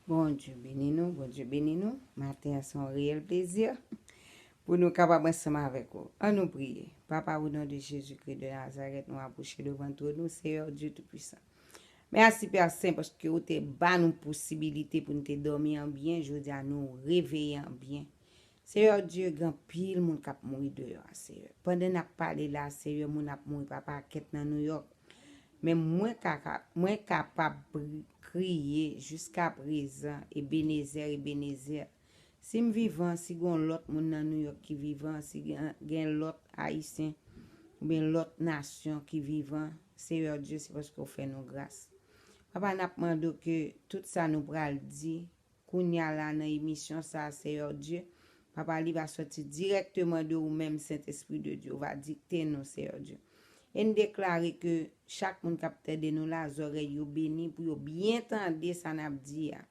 Bondye beni nou, Bondye beni nou. Maten an se yon reyèl plezi pou nou kapab ansanm avèk ou. An nou priye. Papa o non de Jezikri de Nazarèt nou apwoche devan twòn ou, Seyè Dye Toupisan. Mèsi Pè Sen paske ou te ba nou posibilite pou nou te dòmi anbyen, jodi a nou reveye anbyen. Seyè Dye gen anpil moun kap mouri deyò a seyè pandan nap pale la seyè moun ap mouri pa pakèt nan nouyòk men mwen ka mwen kapab kriye jiskaprezan ebenezer ebenezer sim vivan si gon lòt moun nan nouyòk ki vivan si gen lòt ayisyen oubyen lòt nasyon ki vivan seyè Dye se paske ou fè nou gras papa nap mande w ke tout sa nou pral di Kounya la nan emisyon sa Seyè Dye, papa li va sòti dirèkteman de ou menm Sentespri de Dye, ou va dikte nou Seyè Dye. E n deklare ke chak moun k ap tade nou la zòrèy yo beni pou yo byen tande sa n ap di a.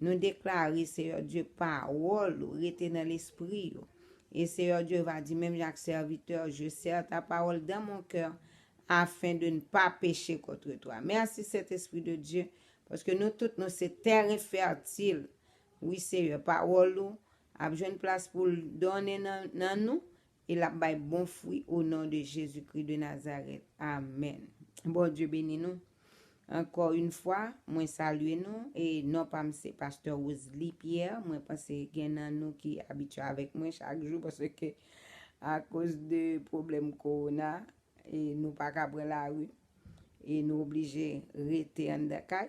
Nou deklare Seyè Dye pawòl ou rete nan lespri yo. E Seyè Dye va di menm jan ak sèvitè, je sèr ta pawòl dan mon kèr, afen de n pa peche kontre twa. Mèsi Sentespri de Dye Paske nou tout nou se tèren fètil. Wi Seyè, pawòl ou ap jwenn plas pou l donnen nan nou e l ap bay bon fwi o non de Jezikri de Nazarèt. Amèn. Bondye beni nou. Ankò yn fwa, mwen salye nou e non pa m se Pastè Rosely Pierre. Mwen panse gen nan nou ki abitye avèk mwen chak jou paske akoz de pwoblèm kowona e nou pa ka pran lari. e nou oblije rete anndan kay,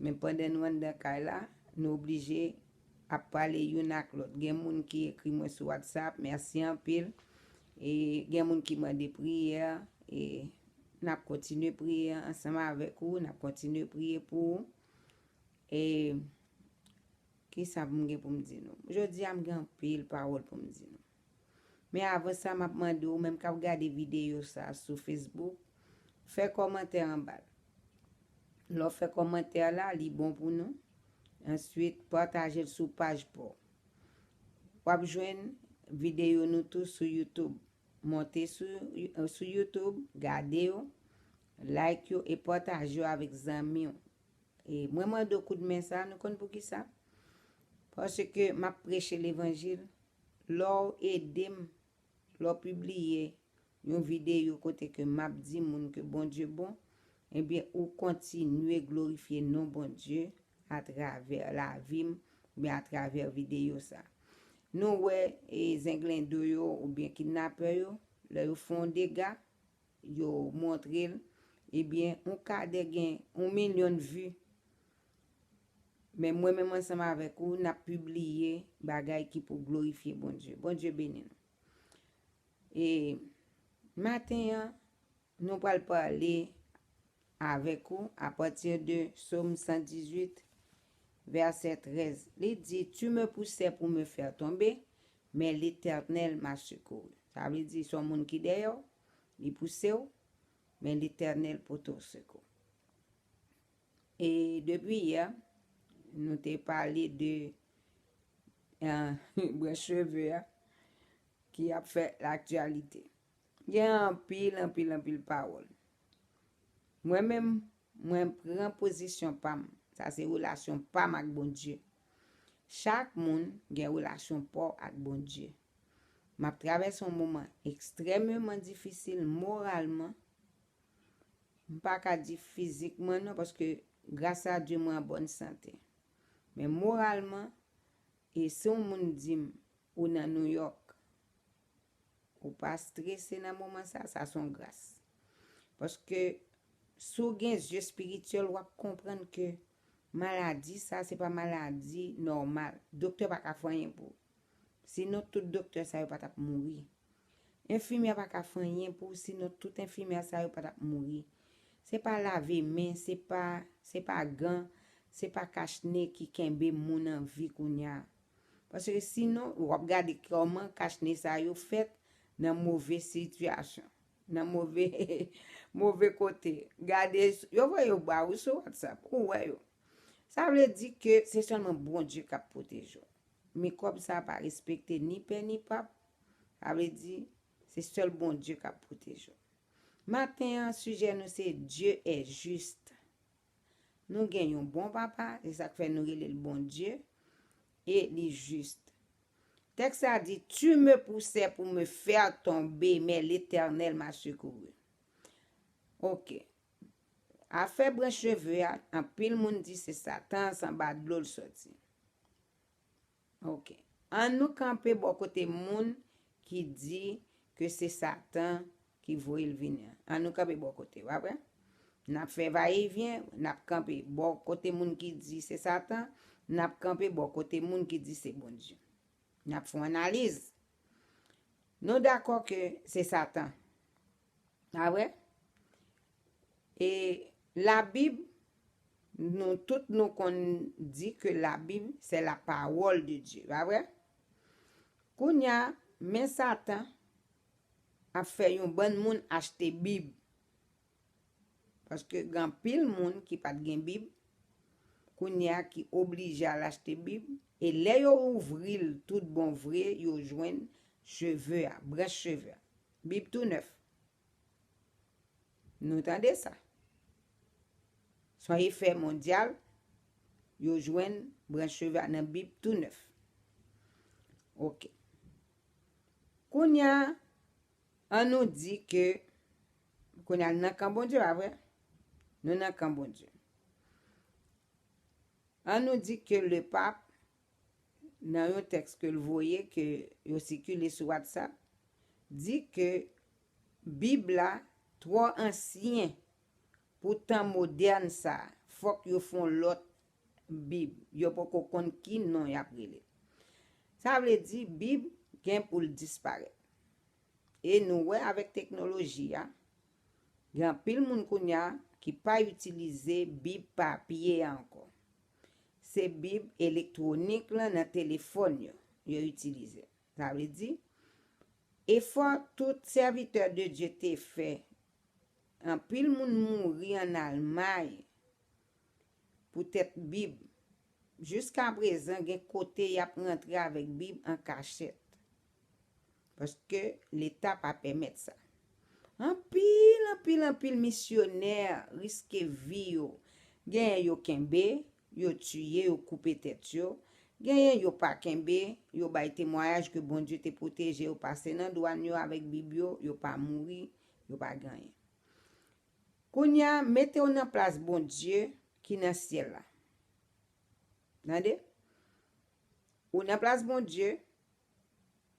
men pandan nou anndan kay la, nou oblije ap pale youn ak lòt. Gen moun ki ekri mwen sou WhatsApp, mèsi anpil. E gen moun ki mande priyè, e n ap kontinye priye ansanm avèk ou, n ap kontinye priye pou ou. E ki sa m gen pou m di nou? Jodi a m gen anpil pawòl pou m di nou. Men avan sa map mande ou menm kap gade videyo sa sou Facebook fè kòmantè anbal. Lè w fè kòmantè la li bon pou nou. Answit pataje l sou paj paw. Wap jwenn videyo nou tou sou YouTube. Monte sou YouTube gade yo, like yo e pataje yo avèk zanmi w. E mwen mande w kout men sa nou konn poukisa? Paske map preche levanjil Lè'w ede'm, lè'w pibliye yon videyo kote ke map di moun ke Bondye bon, ebyen ou kontinye glorifye non Bondye atravè lavi'm oubyen atravè videyo sa. Nou wè zenglendo yo oubyen kidnapè yo, lè yo fè yon dega, yo montrel ebyen yon kadè gen yon milyon vi men mwen menm ansanm avèk ou nap pibliye bagay ki pou glorifye Bondye Bondye beni nou e maten an nou pral pale avèk ou apati de som 118 vèsè 13 li di tu me pousè pou me fè tonbe men letènèl ma sekou sa vle di son moun ki dèyèw Li pouse w, men Letènèl pote w sekou. E depi yè, nou te pale de branch cheve a ki ap fè laktyalite. Gen anpil, anpil, anpil pawòl. Mwen menm, mwen pran pozisyon pa m. Sa se relasyon pa m ak Bondye. Chak moun gen relasyon pa w ak Bondye. M ap travèse yon moman ekstrèmeman difisil moralman, m pa ka di fizikman non paske gras a Dye mwen an bòn sante. Men moralman, e si yon moun di m ou nan New York, ou pa strese nan moman sa, sa se yon gras. Paske si w gen zye espirityèl w ap konprann ke maladi sa se pa maladi nòmal. Doktè pa ka fè anyen pou ou. Si non tout doktè sa yo pa tap mouri. Enfimyè pa ka fè anyen pou w si non tout enfimyè sa yo pa tap mouri. Se pa lave men, se pa, se pa gan, se pa kach ne ki kenbe moun an vi kounya. Paske si non, w ap gade kòman kach ne sa yo fèt nan move sitiyasyon, nan move, move kote. Gade, yo voye yo ba ou sou WhatsApp, ou wè yo. Sa vle di ke se sèlman Bondye k ap pwoteje w. Mikwòb sa pa respekte ni pè ni pap, sa vle di, se sèl Bondye k ap pwoteje w. Maten an, sijè nou se Dieu est juste. Nou gen yon bon Papa, se sa k fè nou rele l Bondye, e li jis. Tèks la di, Tu me poussais pour me faire tomber, mais l'Etènèl m'a secouru. Ok, Afè branch cheve a anpil moun di se satan s anba dlo l soti ok an nou kanpe bò kote moun ki di ke se satan ki voye l vini an an nou kanpe bò kote pa vre nap fè va e vyen nap kanpe bò kote moun ki di se satan nap kanpe bò kote moun ki di se bondye nap fon analiz nou dakò ke se satan. A wè? E la bib nou tout nou konn di ke la bib se la pawòl de Dye. Pa wè? Kounya men satan ap fè yon bann moun achte bib. Paske gen anpil moun ki pat gen bib kounya ki oblije al achte bib e lè yo ouvril tout bon vre yo jwenn cheve a, branch cheve a. Bib tou nèf. Nou tande sa. Son efè mondyal, yo jwenn branch cheve a nan Bib tou nèf. Ok. Kounya, an nou di ke, kounya nan kan Bondye, pa vre? Nou nan kan Bondye. An nou di ke le pap, nan yon tèks ke l voye ke yo sikile sou WhatsApp di ke Bib la twò ansyen pou tan modèn sa a, fòk yo fè yon lòt Bib, yo poko konn ki non y ap rele l. Sa vle di Bib gen pou l disparèt. E nou wè avèk teknoloji a, gen anpil moun kounye a ki pa itilize Bib papye a ankò. Se Bib elektwonik lan nan telefòn yo, yo itilize. Sa vle di, efò tout sèvitè de Dye te fè, anpil moun mouri ann Almay poutèt Bib. Jiskaprezan gen kote y ap rantre avèk Bib an kachèt. Paske leta pa pèmèt sa. Anpil, anpil, anpil misyonè riske vi yo. Genyen yo kenbe, yo tiye, yo koupe tèt yo. Genyen yo pa kenbe, yo bay temwayaj ke Bondye te pwoteje yo pase nan dwàn yo avèk Bib yo, yo pa mouri, yo pa gen anyen. Kounye a, mete w nan plas Bondye ki nan syèl la. Tande? Ou nan plas Bondye.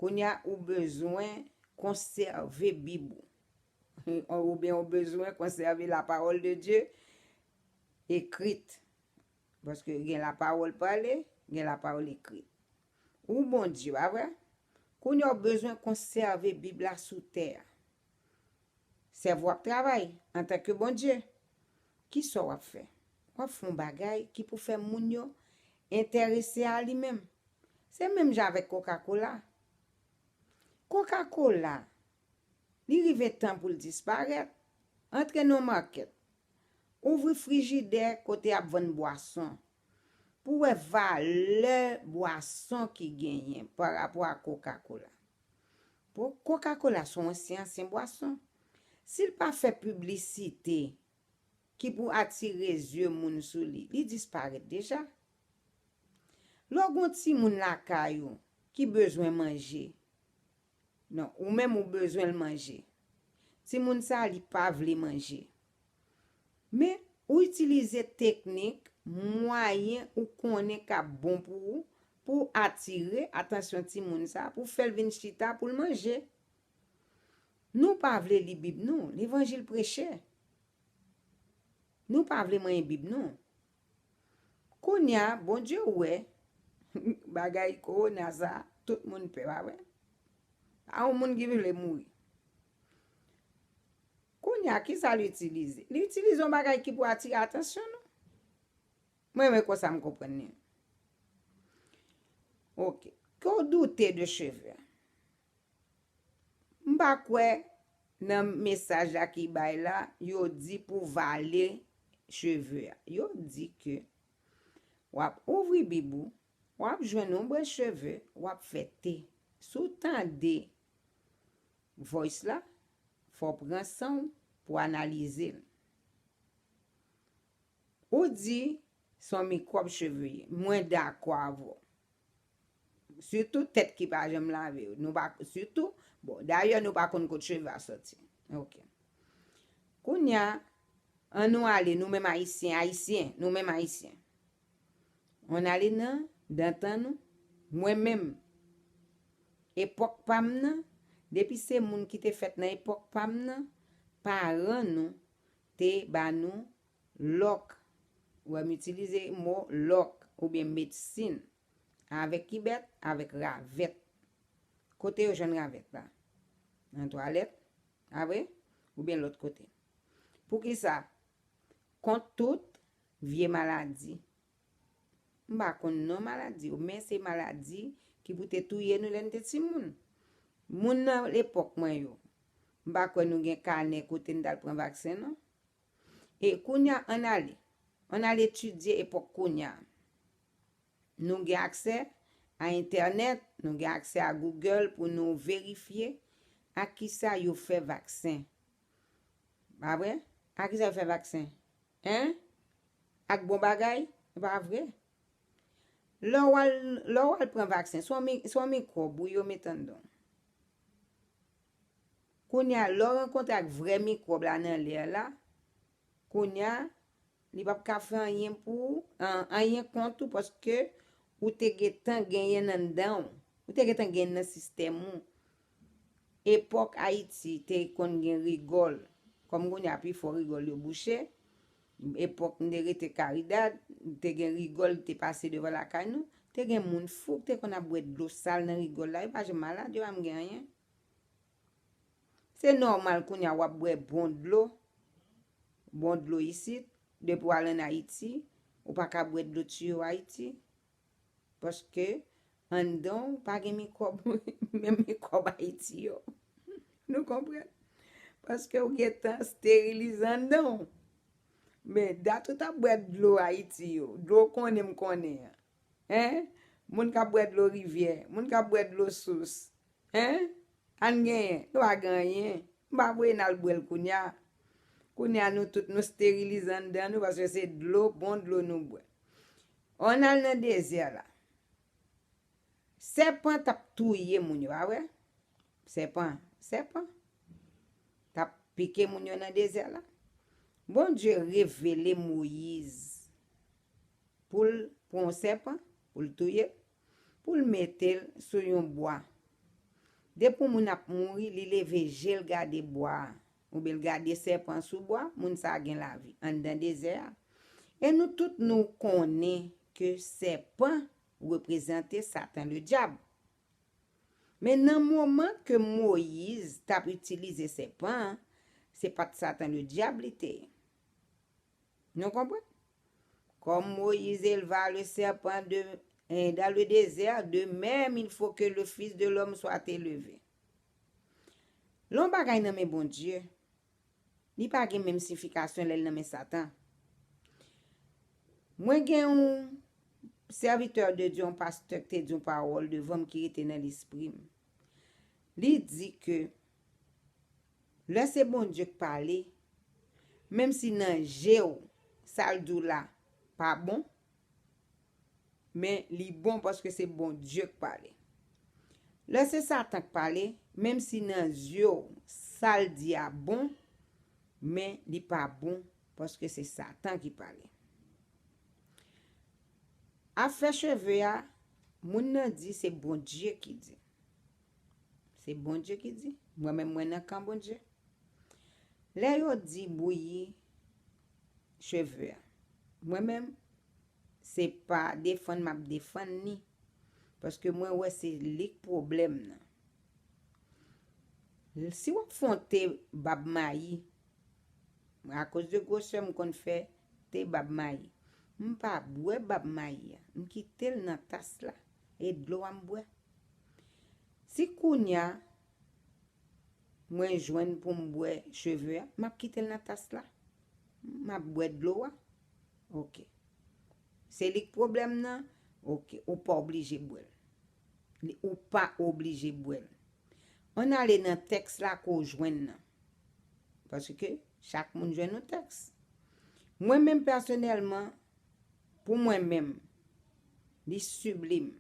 Kounye a ou bezwen konsève Bib ou. Oubyen ou bezwen konsève lapawòl de Dye ekrit. Paske gen lapawòl pale, gen lapawòl ekrit. Ou Bondye, pa vre? Kounye a ou bezwen konsève Bib la sou tè a. Sèvo w ap travay antanke Bondye. Ki sa w ap fè? W ap fè yon bagay ki pou fè moun yo enterese a li menm. Se menm jan avèk kokakola. Kokakola, li rive tan pou l disparèt, antre nan yon makèt, ouvri frijidè kote y ap vann bwason, pou w wè valè bwason ki genyen parapò a kokakola. Bon kokakola son ansyen ansyen bwason sil pa fè piblisite ki pou atire zye moun sou li li disparèt deja lè w gon timoun lakay ou ki bezwen manje nan ou menm ou bezwen l manje timoun sa li pa vle manje. Men, ou itilize teknik, mwayen ou konnen k ap bon pou ou, pou w atire atansyon timoun sa a, pou w fè l vin chita pou l manje. Nou pa vle li Bib nou, levanjil preche. Nou pa vle manyen Bib nou. Kounye a, Bondye wè bagay kowona sa a, tout moun pè, pa vre? Pa yon moun ki vle mouri. Kounye a, ki sa l itilize? Li itilize yon bagay ki pou atire atansyon nou. M renmen konsa m konprann li. Ok. Ke w doute de cheve a? M pa kwè nan mesaj la ki bay la, yo di pou w vale cheve a. Yo di ke w ap ouvri bib ou, w ap jwenn yon brèch cheve, w ap fè te. Si w tande Voice la fò w pran san w pou w analize l. Ou di son mikwòb cheve ye. Mwen dakò avè w. Sitou tèt ki pa janm lave yo. Nou pa sitou bon dayè nou pa konn kot cheve a soti. Ok. Kounya an nou ale nou menm ayisyen ayisyen nou menm ayisyen. On ale nan dantan nou mwen menm epòk pam nan depi se moun ki te fèt nan epòk pam nan paran nou te ba nou lòk wè m itilize mo lòk oubyen medsin avèk ki bèt avèk ravèt kote yo jwenn ravèt la nan twalèt pa vre oubyen lòt kote poukisa kont tout Vye maladi. M pa konn non maladi yo, men se maladi ki pou te touye nou lè n te timoun. Moun nan epòk mwen yo, m pa kwè nou gen kanè kote n t al pran vaksen non. E kounye a, ann ale, ann al etidye epòk kounye a. Nou gen aksè a entènèt, nou gen aksè a Google pou nou verifye ak ki sa yo fè vaksen. Pa vre? Ak ki sa yo fè vaksen? Hein? Ak bon bagay? E pa vre. Lè w al, lè w al pran vaksen, se yon mi, se yon mikwòb wi yo met anndan w. Kounye a, lè w rankontre ak vrè mikwòb la nan lè a la, kounye a, li p ap ka fè anyen pou ou, anyen kont ou paske ou te gentan genyen l anndan w. Ou te gentan genyen l nan sistèm ou. Epòk Ayiti te konn gen rigòl, kòm kounye a pifò rigòl yo bouche, epòk m te rete Karidad, te gen rigòl ki te pase devan lakay nou, te gen moun fou ki te konn ap bwè dlo sal nan rigòl la, yo pa janm malad, yo pa janm gen anyen. Se nòmal kounye a w ap bwè bon dlo, bon dlo isit, depi w al ann Ayiti, ou pa ka bwè dlo tiyo Ayiti, Paske anndan w pa gen mikwòb, menm mikwòb Ayiti yo. Nou konprann? Paske ou gen tan sterilize anndan w. Men, dat ou t ap bwè dlo Ayiti yo, dlo w konnen m konnen an, hein, moun k ap bwè dlo rivyè, moun k ap bwè dlo sous, hein, ann genyen, nou pa gen anyen. M pa voye n al bwè l kounye a. Kounye a nou tout nou sterilize anndan nou paske se dlo, bon dlo nou bwè. Ann al nan dezè la. Sèpan t ap touye moun yo, a wè? Sèpan, sèpan. T ap pike moun yo nan dezè la. Bondye revele Moyiz pou l pran yon sèpan, pou l touye l, pou l mete l sou yon bwa. Depi yon moun ap mouri, li leve je l gade bwa a, Ou bel gade sèpan sou bwa, moun sa gen lavi anndan dezè a. E nou tout nou konnen ke sèpan reprezante satan le dyab. Men nan moman ke Moyiz tap itilize sèpan an, se pat satan le dyab li te ye. Nou konprann? Kòm Moyiz elva le sèpan dan le dezè, de mèm il fo ke le Fis de lòm swat eleve. Lè yon bagay nan men Bondye, li pa gen menm sifikasyon lè l nan men Satan. Mwen gen yon sèvitè de Dye, yon pastè ki te di yon pawòl devan m ki rete nan lespri m. Li di ke lè se Bondye k pale, menm si nan je w sa l di w la pa bon, Men li bon paske se Bondye k pale. Lè se Satan k pale, menm si nan zye w sa l di a bon, men li pa bon paske se Satan ki pale. Afè cheve a, moun nan di se Bondye ki di. Se Bondye ki di? Mwen menm mwen nan kan Bondye. Lè yo di bouyi cheve a mwen menm se pa defann map defann ni paske mwen wè se lik pwoblèm nan si wap fon te bab mayi mwen akoz de gwosè m konn fè te bab mayi m pa bwè bab mayi a m kitel nan tas la e dlo a m bwè si kounya Mwen jwenn poum bwè cheve a map kitel nan tas la map bwè dlo a ok se lik pwoblèm nan ok ou pa oblije bwèl ou pa oblije bwèl ann ale nan tèks la ke w jwenn nan paske chak moun jwenn yon tèks mwen menm pèsonèlman Pou mwen menm. Li sublime.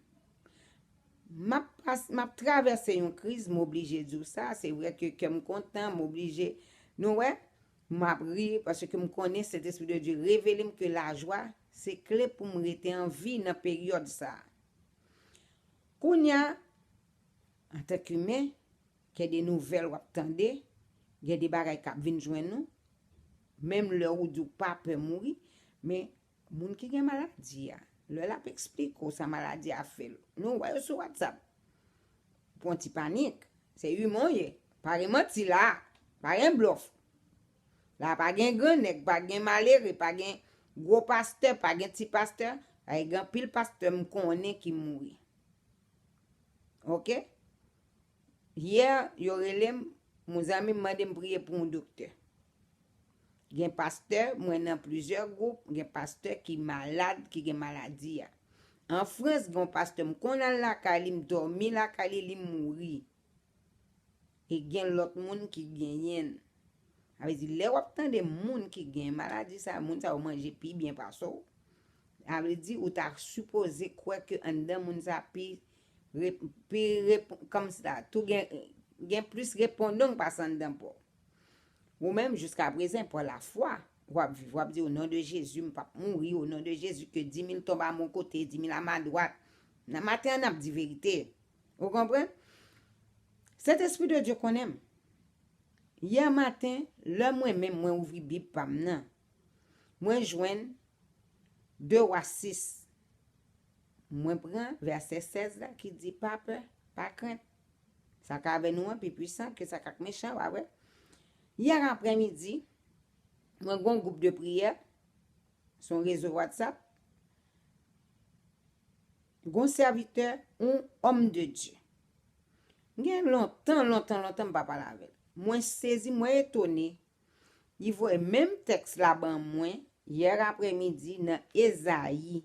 Map pas, map travèse yon kriz, m'oblije di w sa, se vrè ke kè m kontan, m'oblije, nou wè, map ri, paske m konnen Sentespri de Dye revele m ke lajwa se kle pou m rete an vi nan peryòd sa. Kounya, antank imen, Gen de nouvèl wap tande, gen de bagay kap vin jwenn ou, menm lè ou di ou pa pè mouri, men moun ki gen maladi a, lè lap eksplike ou sa maladi a fè l, lè ou wè yo sou WhatsApp, ou pran ti panik, se iman w ye, pa gen manti la, pa gen blòf, la pa gen gran nèg, pa gen malere, pa gen gwo pastè, pa gen ti pastè, paske gen anpil pastè m konnen ki mouri. Ok. Yè yo rele m yon zanmi m mande m priye pou yon doktè. Gen pastè, mwen nan plizyè gwoup, gen pastè ki malad, ki gen maladi a. An Frans gen yon pastè m konn al lakay li, m dòmi lakay li, li mouri. E gen lòt moun ki genyen l. Sa vle di lè w ap tande moun ki gen maladi sa, moun sa yo manje pi byen pase w, sa vle di ou ta sipoze kwè ke anndan moun sa pi Pi repon, kòmsa, tou gen, gen plis repondong pase anndan paw. Ou menm jiska prezan pa lafwa wap viv, wap di o non de Jezi m pap mouri, o non de Jezi ke dimil tonb a mon kote, dimil a ma dwat. Nan maten an nap di verite. Ou konprann? Sentespri de Dye konnen m. Yè maten, lè mwen menm mwen ouvri bib pam nan, mwen jwenn 2 wa 6. Mwen pran vèsè 16 la ki di pa pè, pa krent. Sa k avè nou an pi pwisan ke sa k ak mechan, w a wè. Yè aprè midi, mwen gon gwoup de priyè, s on rezo WhatsApp, gon sèvitè, on homme de Dieu. M gen lontan, lontan, lontan m pa pale avè l. Mwen sezi, mwen etone, li voye menm tèks la ban mwen yè aprè midi nan Ezayi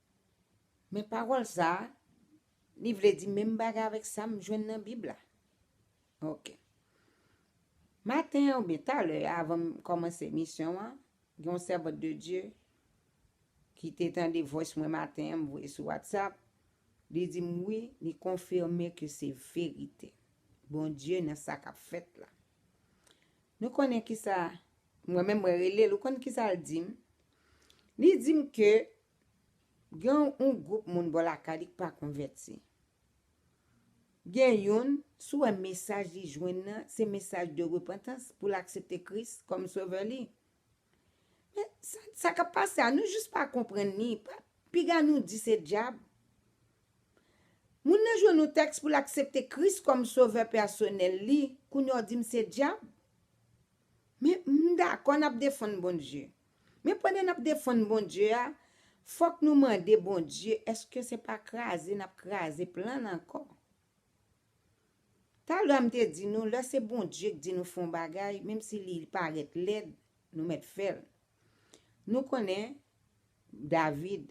Men pawòl sa a, li vle di menm bagay avèk sa m jwenn nan Bib la. Ok. Maten an oubyen talè avan m kòmanse emisyon an, gen yon sèvant de Dye ki te tande voice mwen maten an m voye sou WhatsApp, li di m wi, li konfime ke se verite. Bondye nan sa k ap fèt la. Nou konnen kisa, mwen menm mwen rele l, ou konn kisa l di m? Li di m ke Gen yon gwoup moun bò lakay li k pa konvèti. Gen youn, si w wè mesaj li jwenn nan se mesaj de repantans pou l aksepte Kris kòm sovè li. Men, sa k ap pase a, nou jis pa konprann li. Piga nou di se dyab. Moun nan jwenn yon tèks pou l aksepte Kris kòm sovè pèsonèl li, kounye a w di m se dyab? Men, m dakò n ap defann Bondye. Men pandan nap defann Bondye a, fòk nou mande Bondye eske se pa kraze nap kraze plan l ankò. Talè a m te di nou lè se Bondye k di nou fè yon bagay menm si li parèt lèd nou mèt fè l. Nou konnen David,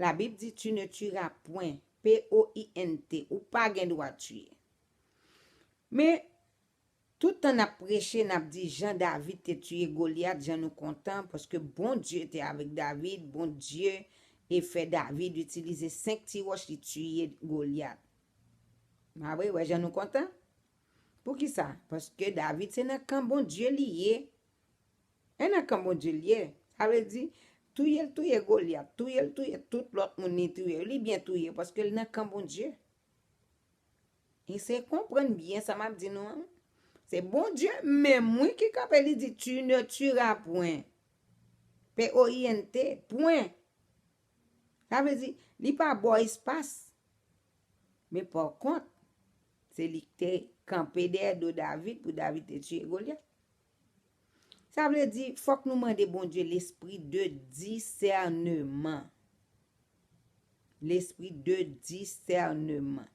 la bib di tu ne tueras point, p o i n t, ou pa gen dwa tiye. Men Tout tan nap preche nap di jan David te tiye Goliath jan nou kontan paske Bondye te avèk David Bondye e fè David itilize 5 ti ròch li tiye Goliath ah wi wè jan nou kontan poukisa paske David se nan kan Bondye li ye e nan kan Bondye li ye sa vle di touyel touye Goliath touyel touye tout lòt moun li touye yo li byen touye paskel nan kan Bondye. Ese konprann byen sa map di nou an. Se Bondye menm wi ki kanpe li di tu ne tueras point. P-o-i-n-t, pwen. Sa vle di, li pa ba w espas. Men pa kont, se li ki te kanpe dèyè do David pou David te tiye Golyat. Sa vle di, fòk nou mande Bondye lespri de disèneman. Lespri de disèneman.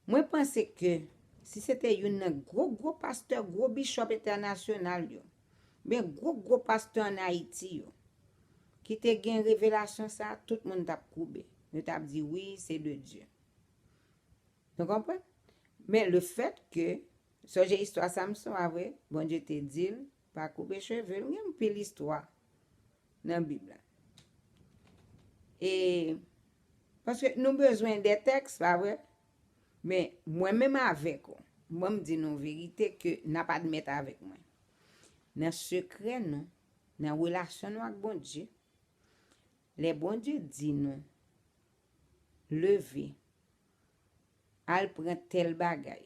Mwen panse ke si se te youn nan gwo gwo pastè, gwo bishop entènasyonal yo, ben gwo gwo pastè an Ayiti yo, ki te gen revelasyon sa, tout moun t ap koube. Yo t ap di wi, se de Dye. Nou konprann? Men le fèt ke, sonje istwa Samson a vre, Bondye te di l, Pa koupe cheve l gen anpil istwa nan bib la e paske nou bezwen de tèks pa vre men mwen menm avèk ou banm di nou verite ke nap admèt avèk mwen nan sekrè nou nan relasyon nou ak Bondye lè Bondye di nou leve al pran tèl bagay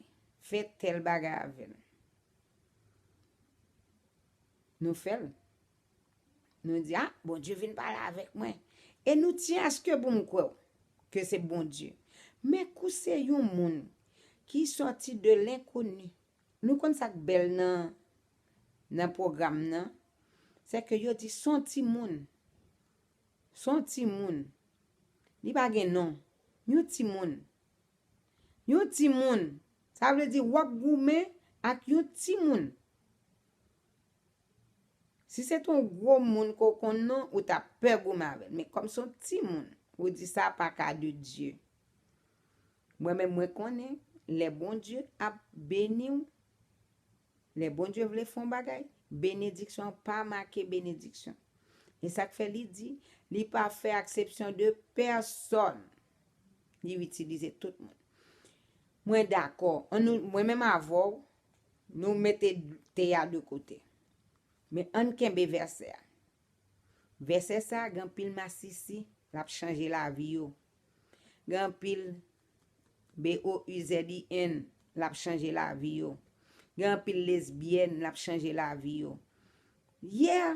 fè tèl bagay avèl. Nou fè l. Nou di a, Bondye vin pale avèk mwen. E nou tyen aske pou m kwè w, ke se Bondye. Men kou se yon moun ki sòti de lenkoni. Nou konn sa k bèl nan pwogram nan, se ke yo di son ti moun. Son ti moun. Li pa gen non. Yon ti moun. Yon timoun, sa vle di w ap goumen ak yon timoun. Si se te yon gwo moun ke w konn non, ou t ap pè goumen avè l. Men kòm se yon timoun, ou di sa pa ka de Dye. Mwen menm mwen konnen lè Bondye ap beni w. Lè Bondye vle fè yon bagay, benediksyon an pa make benediksyon. E sa k fè li di, Li pa fè aksepsyon de pèsòn. Li itilize tout moun. Mwen dakò. Mwen menm avè w, nou mete te a de kote. Men ann kenbe vèsè a. Vèsè sa a gen anpil masisi, l ap chanje lavi yo. Gen anpil BOUZIN lap chanje lavi yo gen anpil lesbienne lap chanje lavi yo yeah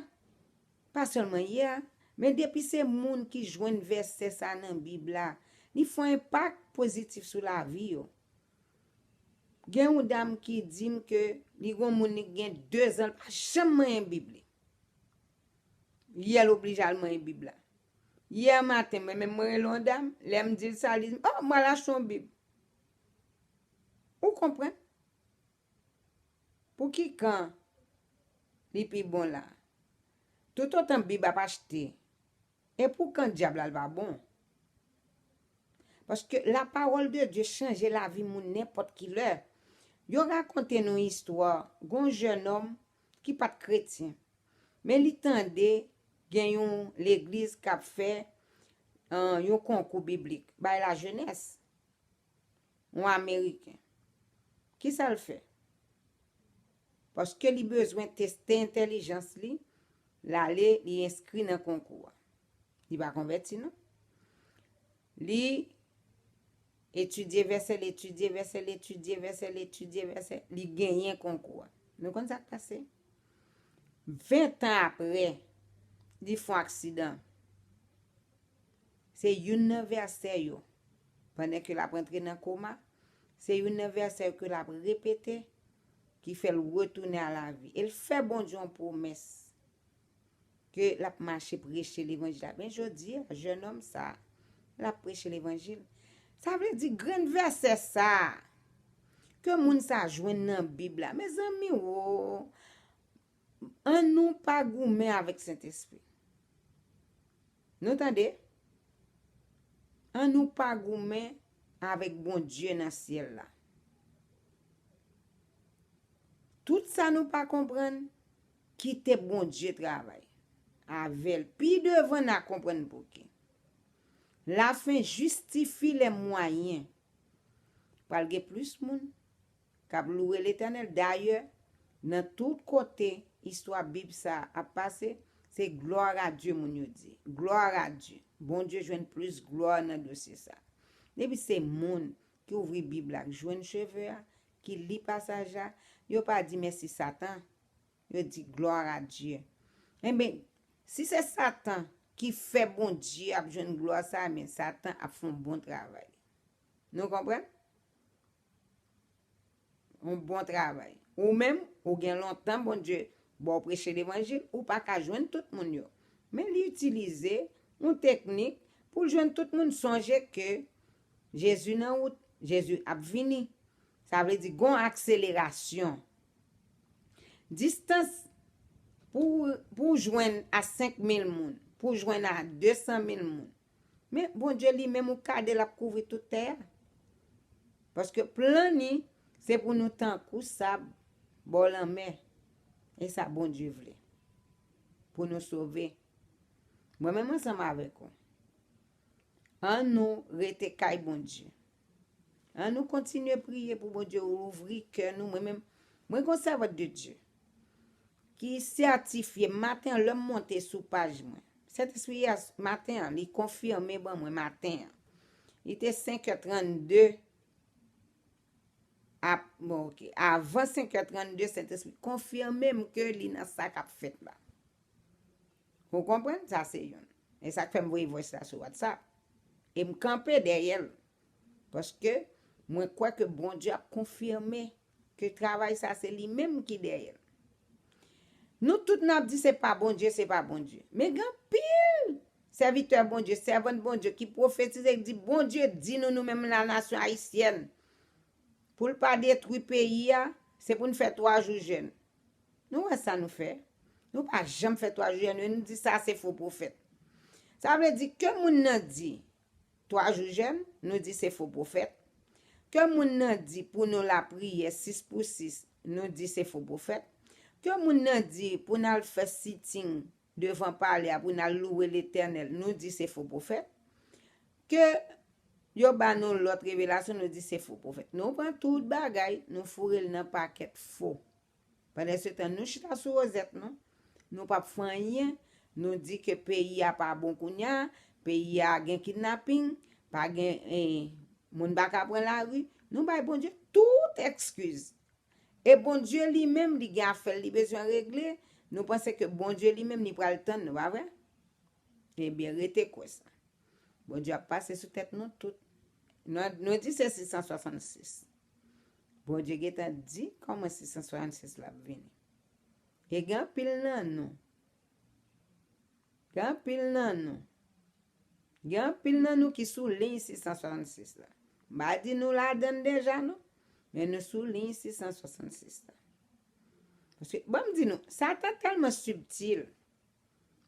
pa selman yeah men depi se moun ki jwenn vèsè sa nan bib la li fon enpak pozitif sou lavi yo gen yon dam ki dim ke li gon moun li gen 2 zan li pa janm manyen bib li. Yè l oblije al manyen bib la. Yè maten mwen menm mwen rele yon dam, lè m di l sa li di m oh m al achte yon bib. Ou konprann? Pou ki kan li pi bon la? Toutotan bib ap achte e pou kan dyab la l va bon. Paske la pawòl de Dye chanje lavi moun nenpòt ki lè. Yo rakonte nou istwa gon jènòm ki pat kretyen men li tande gen yon legliz kap fè yon konkou biblik bay la jenès yon ameriken kisal fè paske li bezwen teste entèlijans li lale li enskri nan konkou a li pa konvèti non Li etidye vèsè, li etidye vèsè, li etidye vèsè, li etidye vèsè, li genyen konkou a. Nou konn sa k pase? Ventan apre, li fon aksidan. Se youn nan vèsè yo, pandan ke l ap antre nan koma, se youn nan vèsè yo ke l ap repete, ki fè l retounen a lavi. E l fè Bondye yon pwomès. Ke lap mache preche levanjil la. Men jodi a, jèn òm sa, lap preche levanjil. Sa vle di grenn vèsè sa, ke moun sa jwenn nan bib la. Mezanmi wo, an nou pa goumen avèk Sentespri. Nou tande? An nou pa goumen avèk Bondye nan syèl la. Tout sa nou pa konprann, Kite Bondye travay. Avel. Pi devan na konprann pouki. La fin jistifi le mwayen. Pral gen plis moun. Kap loure letènel. Dayè. Nan tout kote. Istwa bib sa ap pase. Se gloire a Dieu moun yo di. Gloire a Dieu. Bondye jwenn plis glwa nan dosye sa. Depi se moun. Ki ouvri bib la. K jwenn cheve a. Ki li pasaj la. Yo pa di mèsi satan. Yo di gloire à Dieu. Enben, si se Satan ki fè Bondye ap jwenn glwa sa, enben Satan ap fè yon bon travay. Nou konprann? Yon bon travay. Ou menm, ou gen lontan Bondye ba w preche levanjil, ou pa ka jwenn tout moun yo. Men li itilize yon teknik pou l jwenn tout moun. Sonje ke Jezi nan wout, Jezi ap vini. Sa vle di gon akselerasyon. Distans pou pou w jwenn a 5000 moun, pou w jwenn a 200 mil moun. Men Bondye li menm ou kade l ap kouvri tout tè a. Paske plan ni se pou nou tankou sab bò lanmè. E sa Bondye vle. Pou nou sove. Mwen menm ansanm avèk ou. An nou rete kay Bondye. An nou kontinye priye pou Bondye ouvri kè nou. Mwen menm, mwen gon sèvant de Dye ki sètifye maten lèm monte sou paj mwen. Sentespri yè maten an li konfime ban mwen maten an. Li te 5 è 32 ap bon ok. Avan 5 è 32 sentespri konfime m ke li nan sa kap fèt la. Ou konprann? Sa se youn. E sa k fè m voye vwès la sou WhatsApp. E m kanpe dèyè l. Paske, mwen kwè ke Bondye ap konfime ke travay sa se li menm ki dèyè l. Nou tout n ap di se pa Bondye, se pa Bondye. Men gen anpil sèvitè Bondye, sèvant Bondye ki pwofetize, ki di, Bondye di nou nou menm lanasyon ayisyèn, pou l pa detwi peyi a, se pou n fè twa jou jèn. Nou wè sa nou fè? Nou pa janm fè 3 jiyè nou e nou di sa se fo pwofèt. Sa vle di ke moun nan di 3 jou jèn, nou di se fo pwofèt. Ke moun nan di pou nou lapriyè 6 pou 6, nou di se fo pwofèt. Ke moun nan di pou n al fè sitting devan palè a pou n al louwe Letènèl, nou di se fo pwofèt, ke yo ba nou lòt revelasyon, nou di se fo pwofèt. Nou pran tout bagay, nou foure l nan pakèt fo. Pandansetan, nou chita sou wozèt nou, nou pap fè anyen, nou di ke peyi a pa bon kounye a, peyi a gen kidnaping, pa gen, moun pa ka pran lari, nou bay Bondye tout ekskiz E Bondye li menm li gen afèl li bezwen regle, nou panse ke Bondye li menm li pral tann nou pa vre? Ebyen rete kwè sa. Bondye ap pase sou tèt nou tout. Nou di se 666. Bondye gentan di kòman 666 la ap vini. E gen anpil nan nou. Gen anpil nan nou. Gen anpil nan nou ki sou liy 666 la. M pa di nou ladan l deja non. Men nou sou liy 666 la. Paske, ban m di nou, Satan tèlman sibtil,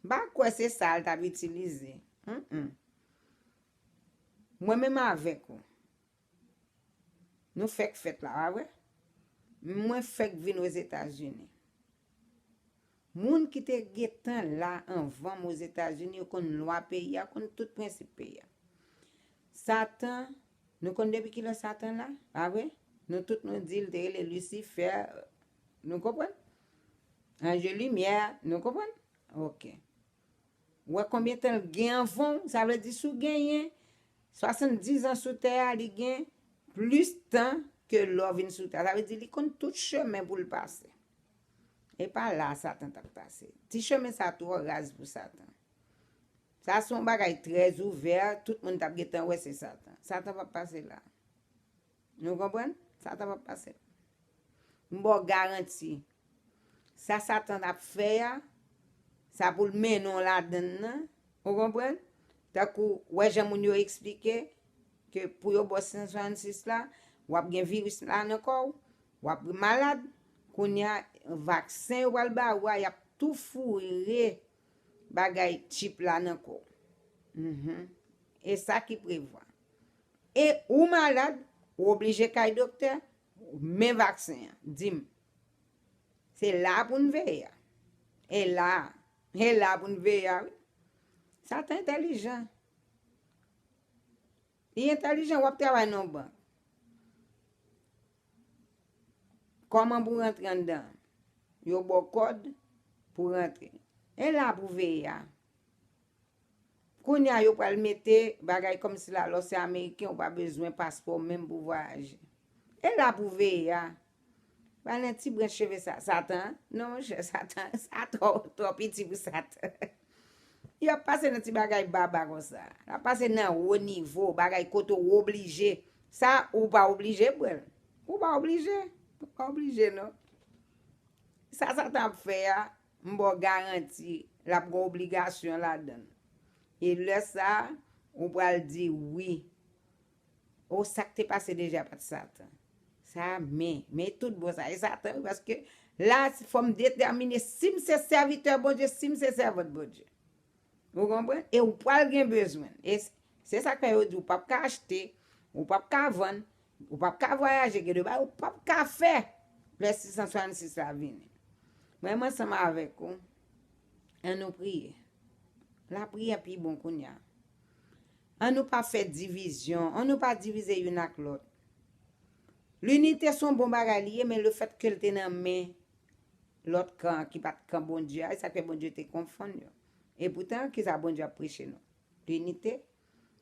m pa kwè se sa l t ap itilize. Mwen menm avèk ou. Nou fèk fèt la wa wè. Mwen fèk vin Ozetazini. Moun ki te gentan la anvan m Ozetazini yo konn lwa peyi a, konn tout prensip peyi a. Satan, nou konn depi kilè Satan la, pa vre? Nou tout nou di l te rele Lisifè, nou konprann? Anje limyè, nou konprann? Ok. Ou wè konbyen tan l gen anvan w, sa vle di si w genyen 70 ans sou tè a li gen plis tan ke lè w vin sou tè a, sa vle di li konn tout chemen pou l pase. E pa la a satan t ap pase. Ti chemen sa twò raz pou satan. Sa se yon bagay trè ouvè, tout moun t ap gentan wè se satan. Satan p ap pase la a. Nou konprann? Sa ta va pase. M ba w garanti. Sa satan ap fè a, sa pou l mennen w ladann nan. Ou konprann? Tankou, wè jan moun yo eksplike, ke pou yo ba w 666 la, w ap gen viris la nan kò w, w ap malad, kounye a, vaksen yo pral ba ou a, y ap tou foure bagay chip la nan kò w. E sa ki prevwa. E ou malad, ou oblije kay doktè, men vaksen an, di m. Se la a pou n veye a. E la a. E la a pou n veye a wi. Satan entelijan. Li entelijan, w ap travay nan yon bank. Kòman pou rantre anndan? Yo ba w kòd pou rantre. E la a pou veye a. Kounya yo pral mete bagay kòmsi la lè w se ameriken ou pa bezwen paspò menm pou vwayaje. E la pou veye a. Pa nan ti branch cheve sa. Satan? Non monchè satan sa twò piti pou satan. Yo ap pase nan ti bagay baba konsa. Yo ap pase nan wo nivo, bagay kote w oblije. Sa ou pa oblije pran l. Ou pa oblije. Ou pa oblije non. Sa satan ap fè a, M ba w garanti l ap gen obligasyon ladan l. E lè sa a, ou pral di, Wi. O, sa k te pase deja pa t Satan. Sa a, men, men e toutbon sa a, e Satan wi, paske la a fò m detèmine si m se sèvitè Bondye, si m se sèvant Bondye. Ou konprann? E ou pral gen bezwen l. E se sa k fè yo di ou pap ka achte, ou pap ka vann, ou pap ka vwayaje, gen de bagay ou pap ka fè lè 666 la vini. Mwen menm ansanm avèk ou, an nou priye. Lapriyè pi bon kounye a. An nou pa fè divizyon, an nou pa divize youn ak lòt. Linite s on bon bagay li ye men lefètke l te nan men Lòt kan an ki pa t kan Bondye a, e sa k fè Bondye te konfonn yo? Epoutan, ki sa Bondye ap preche nou? Linite.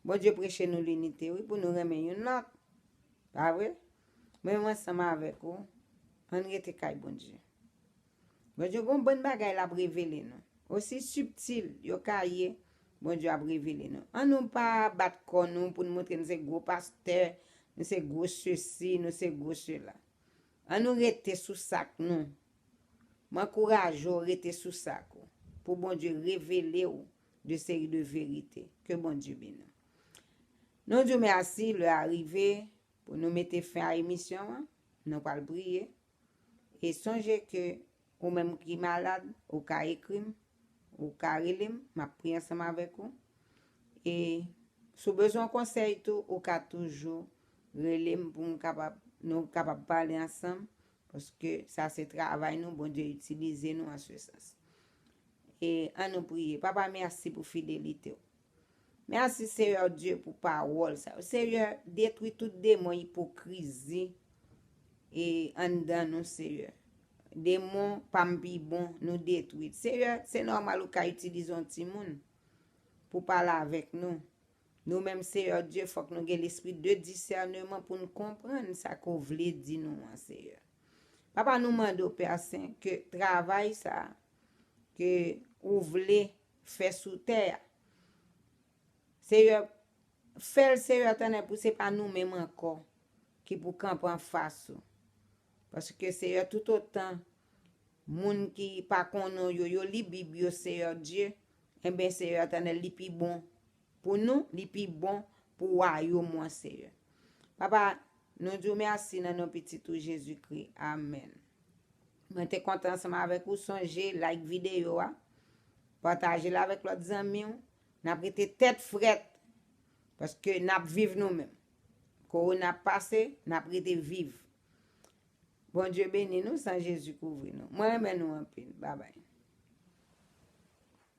Bondye preche nou linite, wi, pou nou renmen youn lòt. Pa vre? Mwen menm ansanm avèk ou, ann rete kay Bondye. Bondye gen yon bann bagay l ap revele nou. Osi sibtil yo ka ye, Bondye ap revele nou. Annou pa bat kò nou pou nou montre nou se gwo pastè, nou se gwo sesi, nou se gwo sela. An nou rete sou sak nou. M ankouraje w rete sou sak ou pou Bondye revele w de seri de verite. Ke Bondye beni w. Nou di w mèsi, lè a rive pou nou mete fen a emisyon an, nou pral priye e sonje ke Ou menm ki malad, ou ka ekri m, ou ka rele m, m ap priye ansanm avèk ou. E si w bezwen yon konsèy tou, ou ka toujou rele m pou m kapab, nou kapab pale ansanm, paske sa se travay nou, Bondye itilize nou an se sans. E an nou priye. Papa mèsi pou fidelite w. Merci Seyè Dye pou pawòl sa yo Seyè detwi tout demon ipokrizi e anndan nou Seyè demon pam pi bon nou detwi Seyè se nòmal ou ka itilize yon timoun pou pale avèk nou nou menm Seyè Dye fòk nou gen lespri de disèneman pou n konprann sa ke w vle di nou an Seyè Papa nou mande w Pè Sen ke travay sa ke ou vle fè sou tè a. Seyè, fè l Seyè tonnè pou se pa nou menm ankò ki pou kanpe anfas ou. Paske Seyè toutotan moun ki pa konnen w yo, yo li bib yo Seyè Dye, enben Seyè tonnè li pi bon pou nou, li pi bon pou wayom ou an Seyè. Papa, Nou di w mèsi nan non pitit ou Jezi Kri. Amen. Mwen te kontan ansanm avèk ou sonje like videyo a pataje l avèk lòt zanmi w nap rete tèt frèt paske nap viv nou menm korona ap pase nap rete viv Bondye beni nou san Jezi kouvri nou mwen renmen nou anpil babay.